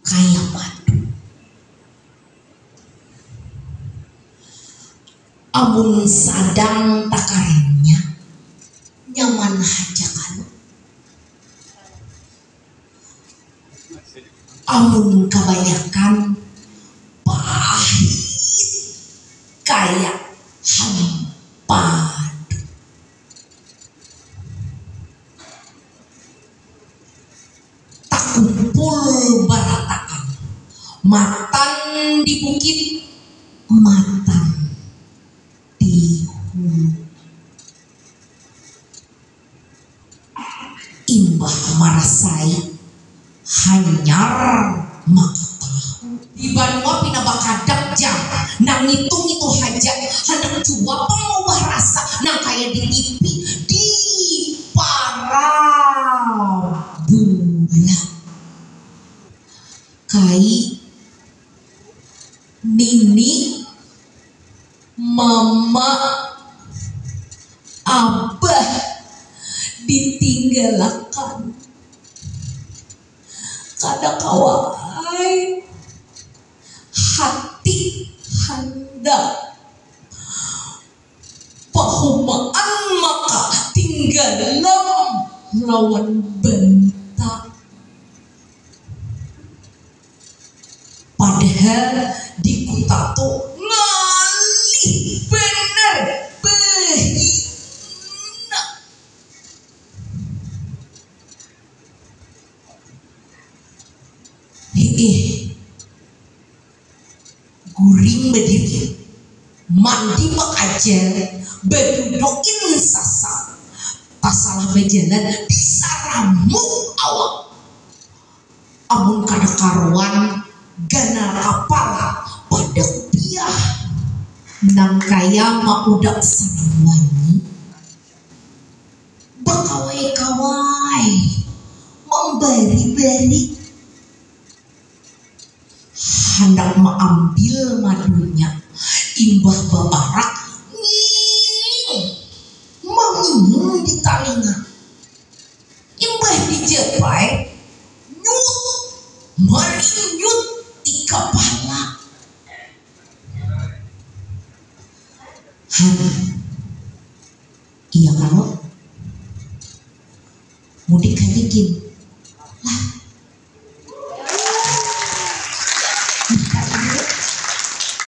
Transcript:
kaya madu. Amun sadang takaringnya, nyaman haja kalo? Amun kabanyakan, pahit kaya hampadu. Kumpul baratakan. Matan di bukit, matan di hulu. Imbah marasai hanyar maka tahu. Di banua pina bakadak ja nang ngitu-ngitu haja handak jua pang maubah rasa nang kaya di tipi di parabola. Kai nini mama abah ditinggalakan. kada kawa ai hati handak pahumaan maka tinggalam lawan bantak padahal dikuta tu ngalih banar bahina. Hiih. Guring badiri, mandi bakajal, badudukin sasa, tasalah bajalan disaramuk awak, amun kada karuan ganal kapala padak piah nang kaya maudak sarang wanyi. Bakawai kawai mambari bari handak maambil madunya imbah baparak ngiing mangiing di talinga imbah dijapai nyut marinyut di kapala han. Iya kalo? Mudik kaya gin. Lah. Nah, kaya ini.